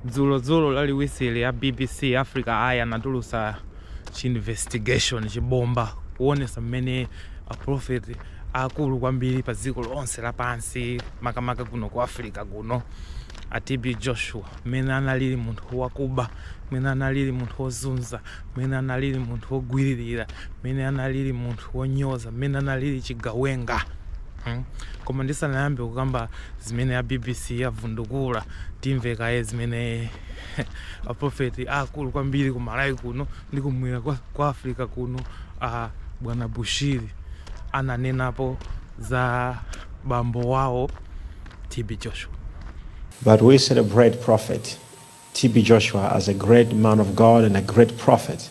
dzulo dzulo laliwisiri ya bbc africa eye anatulusa chiinvestigation chibomba kuonesa mmene aprofeti akulu kwambiri pa dziko lonse lapansi makamaka kuno ku africa kuno a tb joshua mmene analili munthu wakuba mmene analili munthu wozunza mmene analili munthu wogwiririra mmene analili munthu wonyoza mmene analili chigawenga Hmm koma ndisanayambe kukamba zimene a bbc avundukula timve kaye zimene a prophet aakulu kwambiri ku Malawi kuno ndi kumwera kwa Africa kuno a bwana Bushiri ananenapo za bambo wawo TB Joshua. But we celebrate prophet TB Joshua as a great man of God and a great prophet.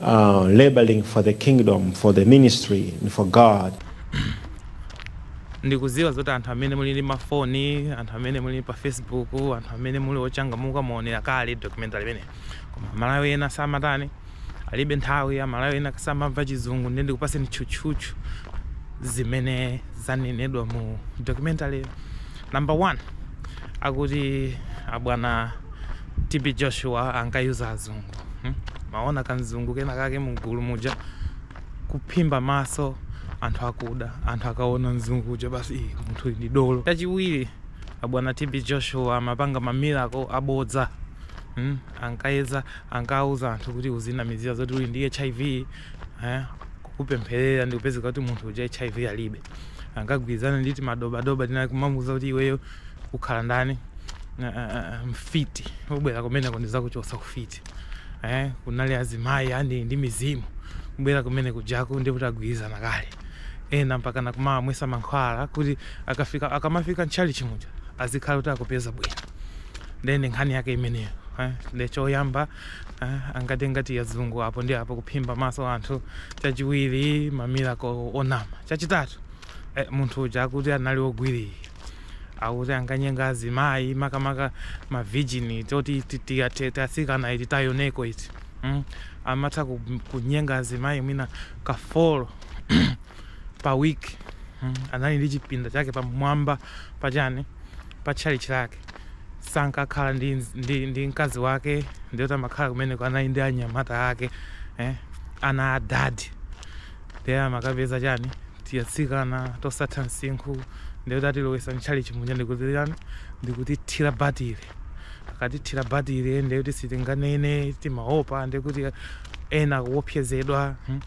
uh, laboring for the kingdom, for the ministry, and for God. ndikuziwa zoti anthu amene muli ndi mafoni anthu amene muli pa facebook anthu amene muli ochangamuka mwaonera kale documentary imeneyi koma amalawi ena samatani alibe nthawi amalawi ena samamva chizungu nde ndikupaseni tchutchutchu zimene zanenedwa mu documentary number one akuti abwana TB Joshua ankayuza azungu hmm? mwaona kamzungu kena kake mgulu muja kuphimba maso anthu akuda anthu akaona mzungu uja basi iyi munthu ndi dolo chachiwiri abwana TB Joshua amapanga mamiracle abodza hmm? ankayeza ankauza anthu kuti uzinamizira zoti uli ndi HIV eh? kukupempherera ndikupezeka kuti munthu uja HIV alibe ankagwirizana ndi timadobadoba tina ndi kumamuuza kuti iweyo ukhala ndani uh, uh, mfiti ubwera kumeneko ndizakuchotsa ufiti eh, kunali azimayi ali ndi mizimu kubwera kumene kujako ndi kuti agwirizana kale ena mpaka ankawamwesa mankhwala kuti akafika akamafika m'tchalichi muja azikhala kuti akupeza bwino ndende nkhani yake imeneyo eh, nde choyamba eh, ankati ankayuza azungu apo ndi apo kuphimba maso anthu chachiwiri mamiracle onama chachitatu eh, munthu uja akuti anali ogwiririra akuti ankanyenga azimayi makamaka ma virgin toti tiatsikana iti tayunekoo iti mm? amatha ku- kunyenga azimayi mwina ka 4 pa week mm? anali ndi chipinda chake pamwamba pachani pa tchalitchi lake sankakhala ndi, ndi, ndi mkazi wake ndiye kuti amakhala kumeneko anali ndi anyamata ake eh? ana a dadi Nde amakapeza chani tiatsikana tosatha msinkhu nde kuti atilowesa mtchalitchi muja ndikuti chani ndikutithila batile akatithila batile nde kuti sitinganene timaopa nde kuti ena akuopsezedwa hmm.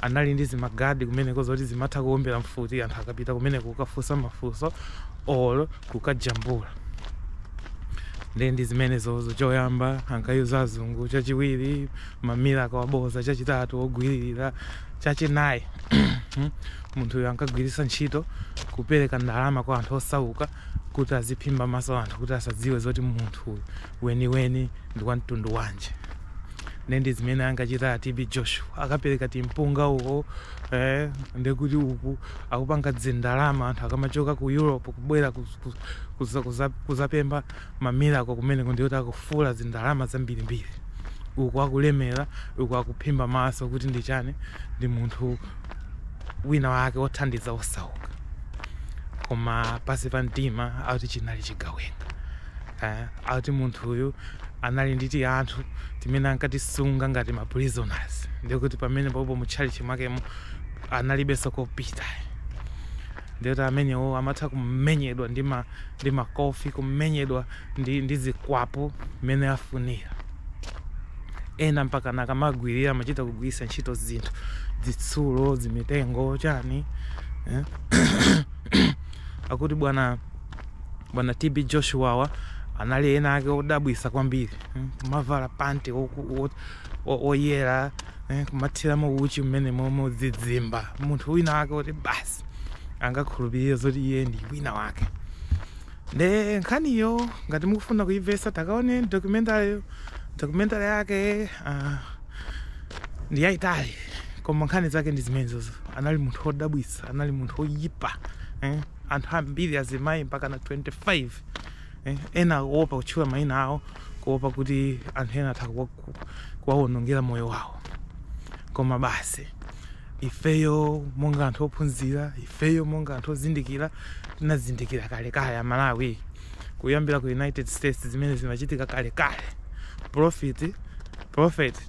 anali ndi zimagadi kumeneko zoti zimatha kuombela mfuti anthu akapita kumeneko kukafunsa mafunso or kukajambula nde ndi zimenezozo choyamba ankayuza azungu chachiwiri ma miracle aboza chachitatu ogwiririra chachinayi munthuyo ankagwiritsa ntchito kupereka ndalama kwa anthu osauka kuti aziphimba maso anthu kuti asadziwe zoti munthu weniweni ndi wa mtundu wanji nde ndi zimene ankachita tb joshua akapereka timpunga uko eh, ndekuti uku akupanga dzindalama anthu akamachoka ku europe kubwera kuz- kuz- kuza- kuza- kuzapempha ma miracle kumeneko ndiye kuti akufula zindalama zambirimbiri uku akulemera uku akuphimba maso kuti ndi chani ndi munthu wina wake othandiza osauka koma pansi pa mtima akuti chinali chigawenga eh, akuti munthu uyu anali ndi tianthu timene ankatisunga ngati ma prisoners ndiye kuti pamenepopo mu tchalitchi mwakemo analibenso kopita Ndiye kuti amenewo amatha kumenyedwa ndi ma ndi makofi kumenyedwa ndi ndi zikwapu mmene afunira ena mpakana akamagwirira amachita kugwiritsa ntchito zinthu zitsulo zimitengo chani eh? akuti bwana bwana TB Joshuawa anali ena ake odabwisa kwambiri hmm? kumavala panti oyera eh, kumathiramo uchi mmenemomo zizimba munthu wina wake oti basi angakhulupirire zoti iye ndi wina wake nde nkhaniyo ngati mukufuna kuimvesa takaone documentary documentary yake uh, ndi yayitali koma nkhani zake ndi zimenezozo anali munthu wodabwitsa anali munthu woyipa eh? anthu ambiri azimayi mpakana 25 Ena akuopa kutchula mayina awo kuopa kuti anthu ena atha kuwawonongera moyo wawo. Koma basi ifeyo monga anthu ophunzira, ifeyo monga anthu ozindikira tinazindikira kalekale Amalawi, kuyambira ku United States zimene zimachitika kalekale. Prophet, prophet.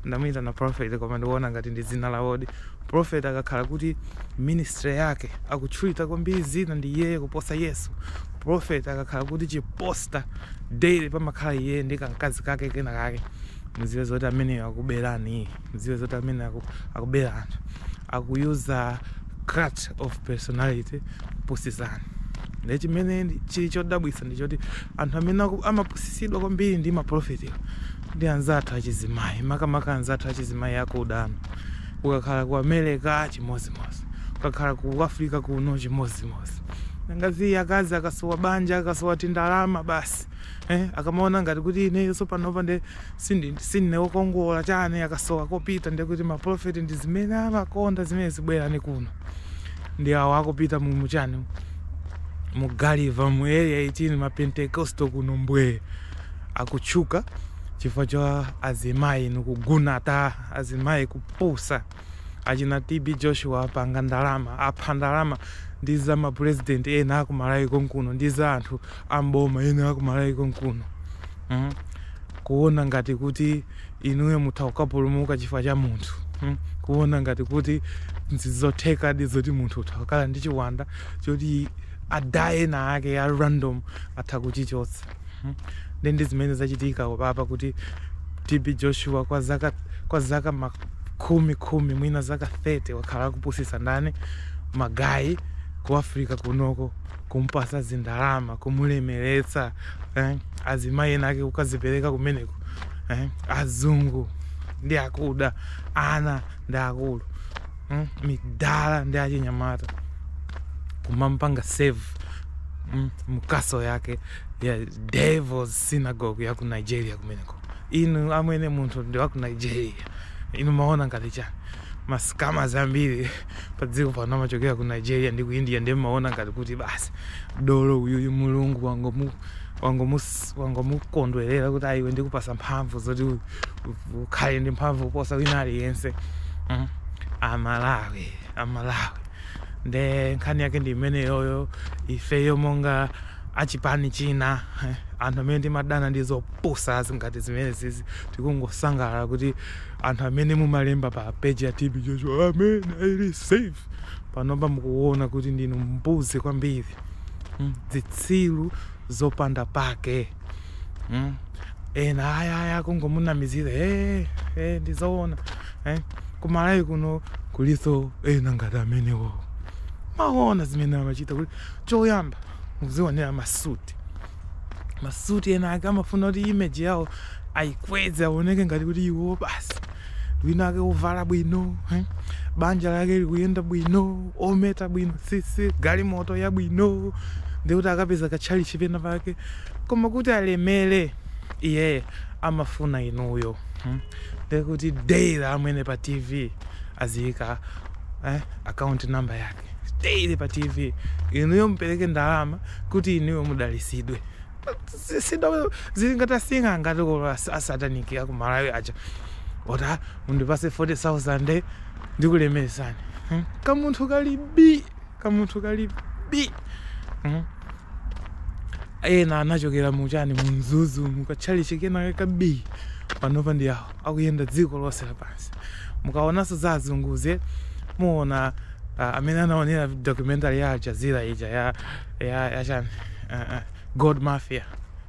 ndamuyitana prophet koma ndikuona ngati ndi dzina lawodi prophet akakhala kuti ministry yake akutchulidwa kwambiri dzina ndi iyeyo kuposa yesu prophet akakhala kuti chi poster daily pamakhala iye ndi kamkazi kake kena kake muziwe zoti ameneyo akuberani mudziwe zoti amene aku, akubera anthu akuyuza cult of personality kupusisani ndi chimene ndi- chili chodabwitsa nchoti anthu amene aku- amapusisidwa kwambiri ndi maprofetiwa ndi anzathu achizimayi makamaka anzathu achizimayi akudano ukakhala ku america chimodzimodzi ukakhala ku africa kuno chimodzimodzi akazi akazi akasowa banja akasowa tindalama basi eh, akamaona ngati kuti ineyo sopanopa nde Sindi sindine wokongola chani akasowa kopita ndiye kuti ma prophet ndizimene amakonda zimenezi bwerani kuno ndi awa akupita mu muchani mu Gulliver mu area 18 ma Pentecostal kuno mbwee akutchuka chifukwa cha azimayi inu kugunata azimayi kupusa achina TB Joshua apanga ndalama, apha ndalama ndi za ma president ena aku Malawi konkuno ndi za anthu a m'boma ena aku Malawi konkuno mm? kuona ngati kuti inuyo mutha kukapulumuka chifukwa cha munthu mm? kuona ngati kuti nzothekadi zoti munthu utha kukhala ndi chiwanda choti adah ena ake a random atha kuchichotsa Nde ndizimene zachitika apapa kuti TB Joshua kwa zaka kwa zaka makumi khumi mwina zaka 30 wakhala akupusisa ndani magayi ku Africa kunoko kumpasa zindalama kumulemeretsa eh? azimayi ena ake kukazipereka kumeneko eh? azungu ndi akuda ana ndi akulu hmm? midala ndi achinyamata kumampanga save mm, mukaso yake ya devils synagogue ya ku nigeria kumeneko inu amwene munthu ndi wa ku nigeria inu maona ngati chani masikama zambiri pa dziko pano amachokera ku nigeria ndi ku india nde maona ngati kuti basi dolo uyuyu mulungu wangomu wangomus- wangomukondwerera kuti aa iwe ndikupasa mphamvu zoti u- u- ukhale ndi mphamvu kuposa wina aliyense mm. amalawi amalawi nde nkhani yake ndi imeneyoyo ifeyo monga achipani china eh, anthu amene timadana ndi zopusa ngati zimenezizi tikungosangalala kuti anthu amene mumalemba pa peji ya tb joshua amen i receive panopa mukuona kuti ndinu mbuzi kwambiri mm, zitsiru zopanda pake mm. ena ayaya akungomunamizira hey, eh, hey, eh, ndizoona Eh? Ku Malawi kuno kuliso ena ngati amenewo. Maona zimene amachita kuti choyamba muzionera masuti. Masuti ena ake amafuna kuti image yawo ayikweze aoneke ngati kuti iwo basi wina ake ovala bwino eh? banja lake likuyenda bwino ometa bwino sisi galimoto yabwino ndikuti akapeza katchalichi pena pake koma kuti alemere iye amafuna inuyo hmm? ndekuti daily amwene pa tv aziyika eh, account number yake daily pa tv inuyo mupereke ndalama kuti inuyo mudalisidwe Si- sido- zili ngati asinga ngati kolo as- asataniki aku malawi aja oti mundipase 40000 ndikulemeretsani Hmm? kamunthu kali bi kamunthu kali bi hmm? ena anachokera muchani mumzuzu mukatchalichi kena kabi panopa ndi awo akuyenda dziko lonse lapansi mukaonanso za azunguze muona uh, amene anaonera documentary ya al jazeera ija ya, ya, ya chani uh, uh, gold mafia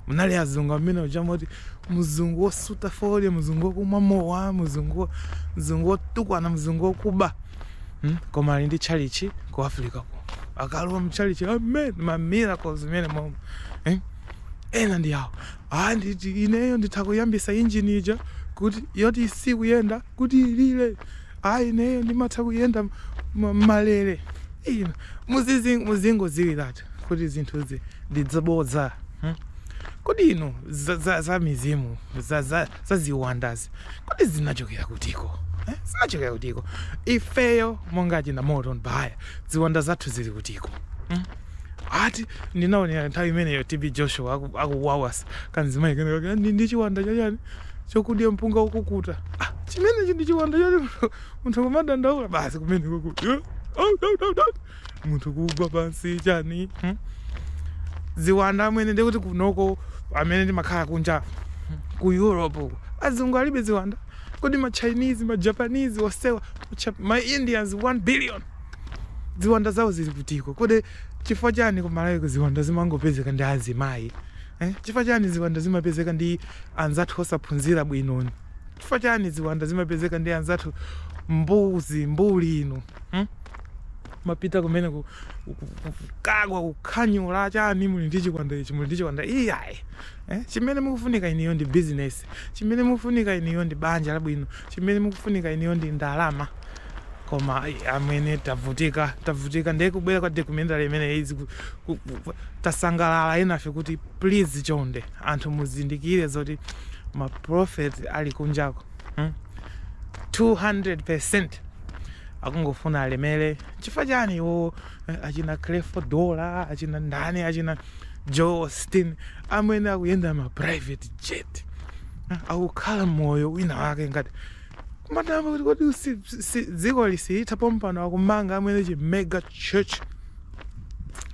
munali azungu amwene uja moti mzungu wosuta fodya mzungu wokumwa mowa mzungu mzungu wotukwana mzungu wokuba Hmm? koma ali ndi tchalitchi ku africako akalowa mtchalitchi amwene ma miracles mmenemomo eh? ena ndi awo ah, nditi ineyo nditha kuyambisa injini ija kuti yoti sikuyenda kuti ilire ah, ineyo ndimatha kuyenda ma- mmalere Inu, muzizi- muzingodziwiratu kuti zinthuzi ndi zabodza hmm? kodi inu za, za, za mizimu za, za, za ziwandazi kodi zinachokera kutiko eh? zinachokera kutiko ifeyo monga achina moto mbaya ziwanda zathu zili kutiko hmm? ati ndinaonera nthawi imeneyo tb joshua aku- akuwawasa kanzimayi kenekake ndi ndi chiwanda chachani chokudya mpunga wokukuta ah, chimenechi ndi chiwanda choti munthu kumadandaula basi kumeneko ku munthu kugwa pansi chani hmm? ziwanda amwene ndikuti kunoko amwene ndimakhala kunja ku europe uko azungu alibe ziwanda kodi ma chinese ma japanese onsewa ma indians 1 billion ziwanda zawo zili kutiko kodi chifukwa chani kumalawi ziwanda zimangopezeka ndi azimayi eh? chifukwa chani ziwanda zimapezeka ndi anzathu osaphunzira bwinoni chifukwa chani ziwanda zimapezeka ndi anzathu mbuzi mbuli inu Hmm? Mapita kumene ku, ku, ku, ku, kukagwa kukhanyula chani muli ndi chiwanda ichi muli ndi chiwanda iyayi. Eh? Chimene mukufunika inuyo ndi business. Chimene mukufunika inuyo ndi banja labwino. Chimene mukufunika inuyo ndi ndalama. Koma ai, amwene tavutika tavutika ndiye kubwera kwa documentary imene izi ku- ku- ku- tasangalala enafe kuti please chonde anthu muzindikire zoti ma prophet ali kunjako Hmm? 200% akungofuna alemere chifukwa chani iwo eh, achina creflo dollar achina ndani achina joel osteen amwene akuyenda ma private jet eh, akukhala moyo wina wake ngati kumadabwa kuti kodi si- si- dzikoli silitha pompano akumanga amwene chi mega church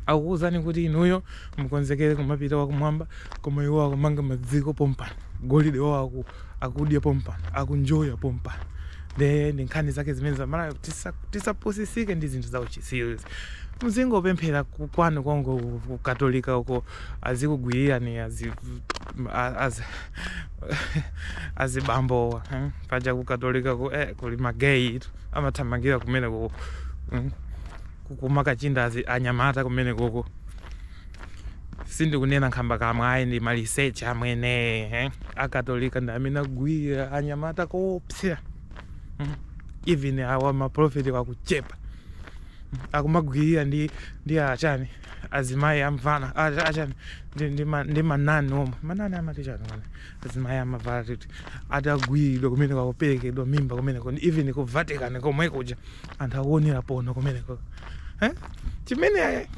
akukuwuzani kuti inuyo mukonzekere kumapita wakumwamba koma iwo akumanga padziko pompano golide wawo aku- akudya pompano akunjoya pompano nde ndi nkhani zake zimene zama layo tisa- tisapusisike ndi zinthu za uchitsiru muzingopemphera ku- kwanu kongo ku- ku katolika uko azikugwirirani azi a- azi azibambowa eh? paja ku katolika ku eh, kuli mageyi amathamangira kumene kuko mm? kukumakachinda azi anyamata kumene kuko sindikunena nkhambakamwa ayi ndi research amwene eh? akatolika ndi amene agwirira anyamata koopsera mm? even awa maprophet wakuchepa mm? akumagwirira ndi ndi achani azimayi amavala cha- achani ndi- ndi ma- ndi manani omwe manani amati chani omwe azimayi amavala titi atagwiridwa kumeneko akuperekedwa mimba kumeneko ndi even ku vatican komwe kuja anthu akuonera pono kumeneko Eh? Chimene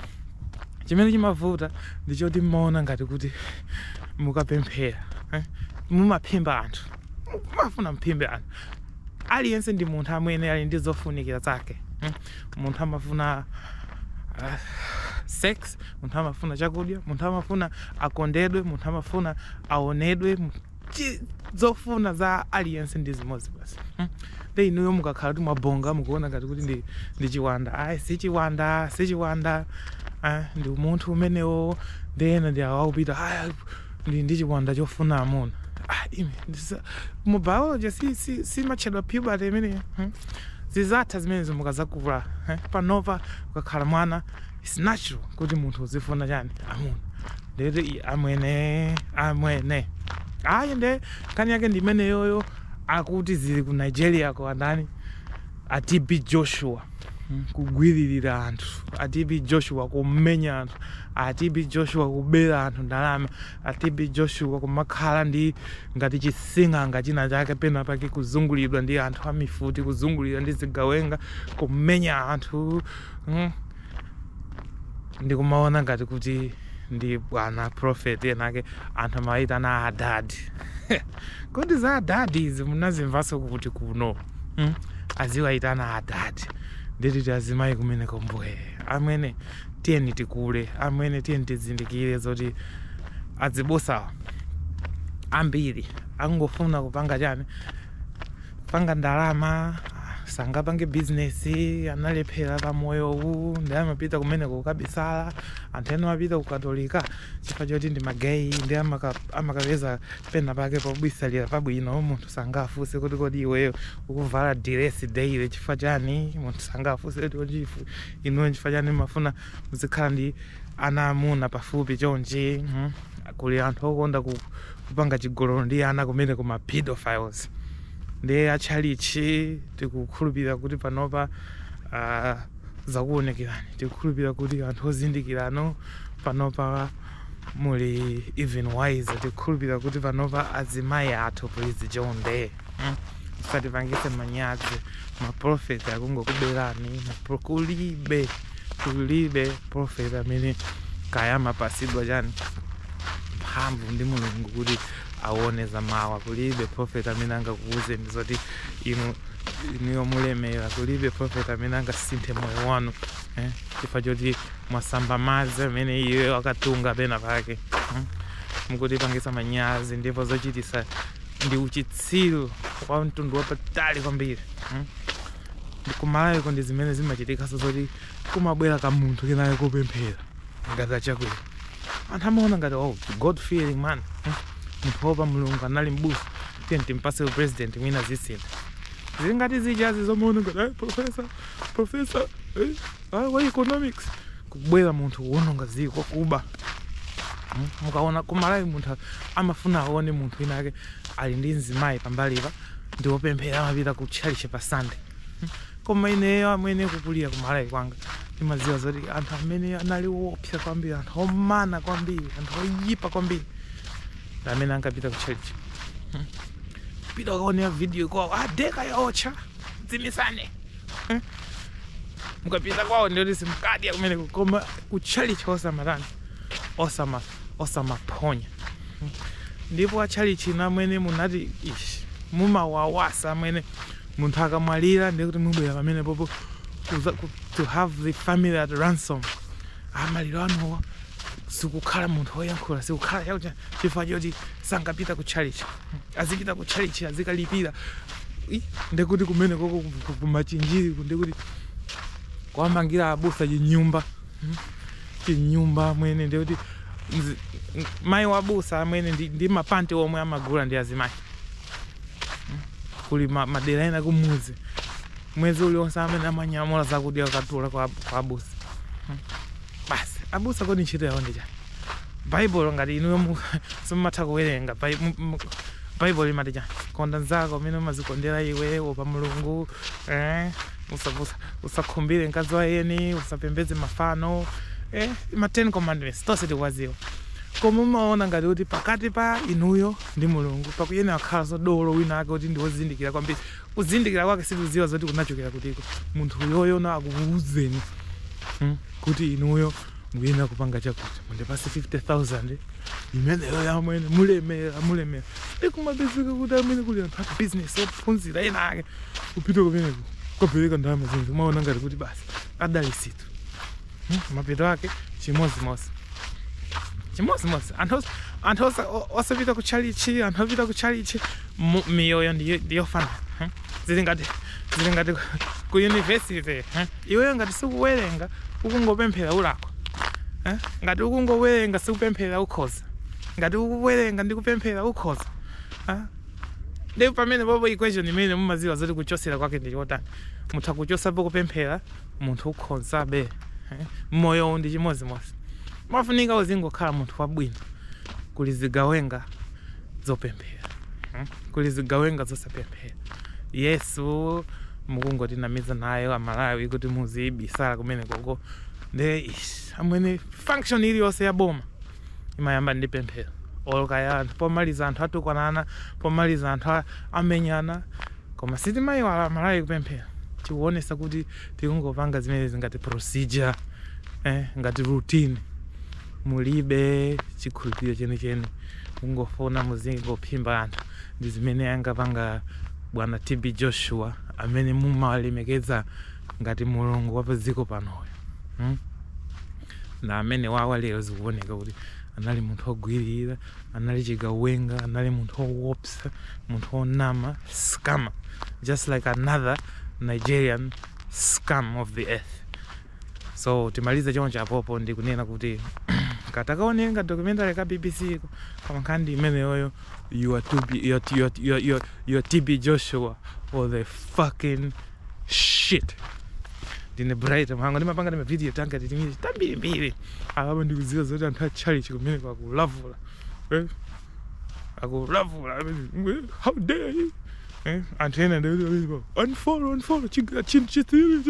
chimene chimavuta ndi choti mmaona ngati kuti mukapemphera eh? mumaphimba anthu mmafuna mphimbe anthu aliyense ndi munthu amwene ali ndi zofunikira zake eh? munthu amafuna uh, sex munthu amafuna chakudya munthu amafuna akondedwe munthu amafuna aonedwe chi zofuna za aliyense ndi zimodzi basi hmm. nde inuyo mukakhala kuti mwabonga mukuona ngati kuti ndi, ndi chiwanda ayi si chiwanda si chiwanda eh, ndi umunthu umenewo nde ena ndi awo akupita "Ah, ndi ndi chiwanda chofuna amuna Ah, ine ndisa- mu biology si, si, simatchedwa puberty imeneyo hmm. zizatha zimenezo mukazakula eh, panopa ukakhala mwana It's natural kuti munthu uzifuna chani amuna ndeti i- amwene amwene ayi nde nkhani yake ndi imeneyoyo akuti zili ku nigeria kwa ndani a tb joshua mm, kugwiririra anthu a tb joshua kumenya anthu a tb joshua kubera anthu ndalama a tb joshua kumakhala ndi ngati chising'anga china chake pena pake kuzunguliridwa ndi anthu amifuti kuzunguliridwa ndi zigawenga kumenya anthu Hmm. ndikumaona ngati kuti ndi bwana prophet enake anthu amawayitana adadi kodi za adadi izi munazimvanso kuti kuno hmm? aziwayitana adadi ndititi azimayi kumene kombwe amwene tiyeni tikule amwene tiyeni tizindikire zoti azibusawa ambiri akungofuna kupanga chani panga ndalama sangapange bizinesi analephera pa moyo uwu ndi amapita kumeneko kukabisala anthu ena amapita kukatolika chifukwa choti ndi mageyi ndi amaka- amakapeza pena pake pobisalira pabwino munthu sangafunse kuti kodi iweyo ukuvala diresi daily chifukwa chani munthu sangafunse kuti kodi ifu- inuyo chifukwa chani mmafuna muzikhala ndi ana amuna pafupi chonchi mhm. kuli anthu okonda ku kupanga chigololo ndi ana kumeneko ma pedophiles nde a tchalitchi tikukhulupirira kuti panopa aah zakuwonekerani tikukhulupirira kuti anthu ozindikiranu panopa muli even wiser tikukhulupirira kuti panopa azimayi athu please chonde mm musatipangise manyazi maprofeti akungokuberani ma pro kulibe kulibe profeti amene kaya amapasidwa chani mphamvu ndi mulungu kuti awone za mawa kulibe profeti amene angakuwuzeni zoti inu inuyo mulemera kulibe profeti amene angasinthe moyo wanu eh? chifukwa choti mwasamba madzi amene iye akatunga pena pake eh? mukutipangisa manyazi ndipo zochitisa ndi uchitsiru wa mtundu wapatali kwambiri eh? kumalawiko ndi zimene zimachitikaso zoti kumabwera kamunthu kenako kopemphera ngati achakwera anthu amaona ngati oh, god fearing man hmm? munthu woopa mulungu anali mbusa tiyeni timpatse upresident mwina zisintha zili ngati zijazi zomaona ngati "Eh, profesa profesa eh, ah, wa economics kubwera munthu kuononga ziko kuba Mm, mukaona kumalawi munthu amafuna aone munthu wina ake ali ndi mzimayi pambalipa ndiwopemphera amapita ku tchalichi pa sunday koma ineyo amwene kukulira kumalawi kwanga ndimadziwa zoti anthu amene anali woopsa kwambiri anthu omana kwambiri anthu oyipa kwambiri ndi amene ankapita ku tchalichi pita ukaonere video kwawo adeka yaotcha dzimisane Hmm? mukapita kwawo ndiyoti simukadya kumeneko koma ku tchalichi osamatani osama osamaphonya mm. ndipo atchalichi inu amwene munati ishi mumawawasa amwene munthu akamwalira ndiye kuti mubwera pamenepopo kuza- ku- to have the family at ransom amaliro anuwa sikukhala munthu woyankhula sikukhala chakuti chifukwa choti sankapita ku tchalichi azipita ku tchalichi azikalipira Ih, ndekuti kumenekoko kumachinjiri ndekuti kwamangira abusa chinyumba chinyumba amwene ndiye kuti mzi- m- mayi wabusa amwene ndi, ndi mapanti omwe amagula ndi azimayi Mm. kuli ma, madera ena kumuzi mwezi uliwonse amene amanyamula zakudya kukatula kwa, kwa abusa Mm. basi abusa kodi ntchito yawo ndi chani baibulo ngati inuyo mu- simumatha kuwerenga Bai- mu- mu- baibulo limati chani konda nzako mmene umazikondera iwe opa mulungu eh? usavusa usakhumbire mkazi wa eni usapembedze mafano eh, ma 10 commandments tonse tikuwadziwa koma umaona ngati kuti pakati pa inuyo ndi mulungu pakuyenera kukhala dolo wina ake kuti ndiwozindikira kwambiri kuzindikira kwake sikudziwa zoti kunachokera kutiko munthu uyoyo na akuuzeni mm, kuti inuyo muyenera kupanga chakuti mundipase 50000 imeneyo yamwene mulemera mulemera ndikumapezeka kuti amene kuli anthu a bizinesi ophunzira ena ake kupita kumeneko kukapereka ndalama zimene umaona ngati kuti basi adalisitu Hmm, mapeto ake chimodzimodzi chimodzimodzi anthu os- anthu osa- o- osapita ku chalichi anthu opita ku chalichi mu- miyoyo ndiyo- ndiyofanana hmm. zili ngati zili ngati ku- ku university hmm. iweyo ngati sikuwerenga ukungopemphera ulakwa eh? ngati ukungowerenga sikupemphera ukhoza ngati ukuwerenga ndi kupemphera ukhoza eh? Nde pamenepopo equation imene mumaziwa zoti kuchosera kwake ndi chotani. Mutha kuchosapo kupemphera munthu ukhozabe moyo uwu ndi chimodzimodzi. Umafunika uzingokhala munthu wabwino. Kuli zigawenga zopemphera. Kuli zigawenga zosapemphera. Yesu mukungotinamiza nayo a Malawi kuti muzibisala kumenekoko. Nde ish amwene function iliyonse ya boma imayamba ndi pemphero olo kaya anthu pomaliza anthu atukwanana pomaliza anthu a- amenyana koma sitimayiwala amalawi kupemphera chikuonesa kuti tikungopanga zimenezi ngati procedure eh, ngati routine mulibe chikhulupiriro chenicheni mungofuna muzingophimba anthu ndi zimene angapanga bwana tb joshua amene mumalemekeza ngati mulungu wa padziko panoyo hmm? nde amene uja lero zikuoneka kuti anali munthu wogwirira anali chigawenga anali munthu wowopsa munthu wonama scammer just like another nigerian scum of the earth so timaliza choncho apopo ndi kunena kuti katakaonenga documentary ka bbc ko koma nkhani imeneyoyo you are to be you are, you are, you are, you are, you are tb joshua or the fucking shit ndine bright mhango ndimapanga ndi mavidiyo tanga titimiri tambirimbiri apapa ndikuziwa zoti anthu a chalichi kumeneko akulavula eh? akulavula eh, how dare you eh? anthu ena ndikuti unfollow unfollow chiga chin chithiri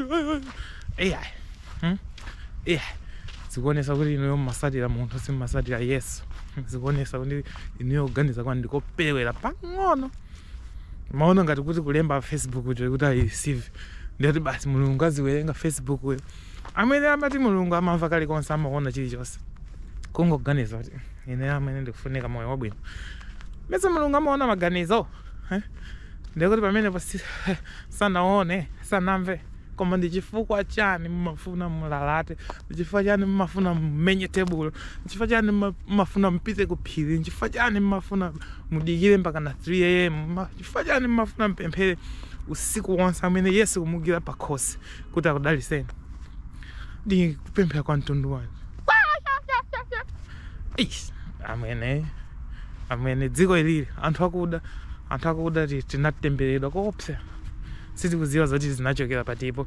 ai hmm? ai zikuonesa kuti inuyo mmasatira munthu simmasatira yesu zikuonesa kuti inuyo kuganiza kwanu ndikoperewera pang'ono mumaona ngati kuti kulemba facebook kuti kuti ayireceive ndiye kuti basi mulungu aziwerenga facebook uyo amene amati mulungu amamva kalikonse amaona chilichonse kungoganiza kuti ine amwene ndikufunika moyo wabwino mesa mulungu amaona maganizo eh? ndiye kuti pamenepo si- sanaone sanamve Koma ndi chifukwa chani mumafuna mulalate? Ndi chifukwa chani mumafuna mumenye tebulo? Ndi chifukwa chani mumafuna mupite ku phiri? Ndi chifukwa chani mumafuna mudikire mpaka na 3 am? Ma- Chifukwa chani mumafuna mupemphere usiku wonse amwene Yesu kumugwira pa khosi kuti akudaliseni? Ndi kupemphera kwa mtundu wanji? Eish, amwene amwene dziko ilili anthu akuda anthu akuda ti- tinatembereredwa koopsa sitikudziwa zoti zinachokera patipo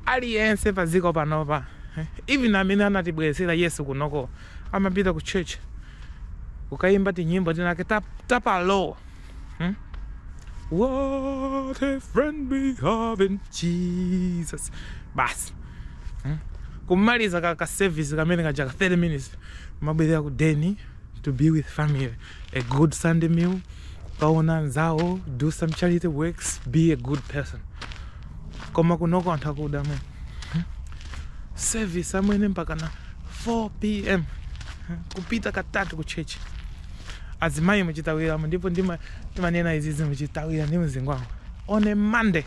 aliyense padziko panopa even amene anatibweretsera yesu kunoko amapita ku church kukayimba tinyimbo tinake tap, tapalo hmm? what a friend we have in jesus basi hmm? kumaliza ka, ka service kamene kaja ka 30 minutes amabwerera ku deni to be with family A good Sunday meal, kukaona anzawo, do some charity works, be a good person. Koma kunoko anthu akuda mwe. Hmm? Service amwene mpaka na 4 pm Hmm? kupita katatu ku church. Azimayi muzitithawiramo ndipo ndima timanena izizi muzitithawira ndi mzingwangu. On a Monday,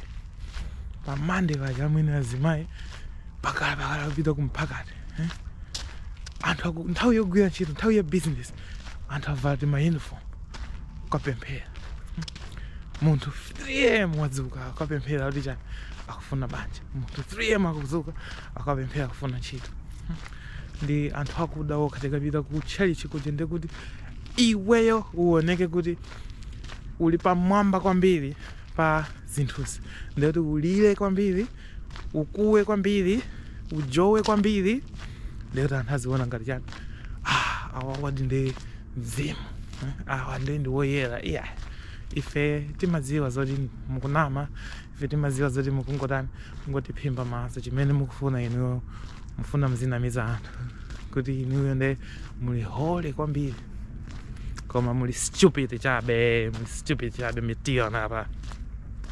pa Monday paja amwene azimayi amakhala amakhala kupita kumphakati. Hmm? anthu aku- nthawi yogwira ntchito nthawi ya business anthu avala ti mauniform kukapemphera munthu 3 am wadzuka akapemphera kuti chani akufuna banja munthu 3 am akudzuka akapemphera akufuna ntchito ndi anthu akuda okha tikapita ku tchalichi kuja nde kuti iweyo uoneke kuti uli pamwamba kwambiri pa zinthuzi nde kuti ulire kwambiri ukuwe kwambiri ujowe kwambiri nde kuti anthu aziona ngati chani ah, awa awadi ndi mzimu eh, awa ndi ndi woyera iya yeah. ife timadziwa zoti mukunama ife timadziwa zoti mukungotani mungotiphimba maso chimene mukufuna inuyo mufuna muzinamiza anthu kuti inuyo nde muli holy kwambiri koma muli stupid chabe muli stupid chabe mukutiona apa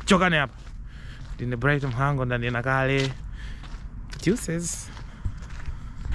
chokani apa ndine bright mhango ndanena kale deuces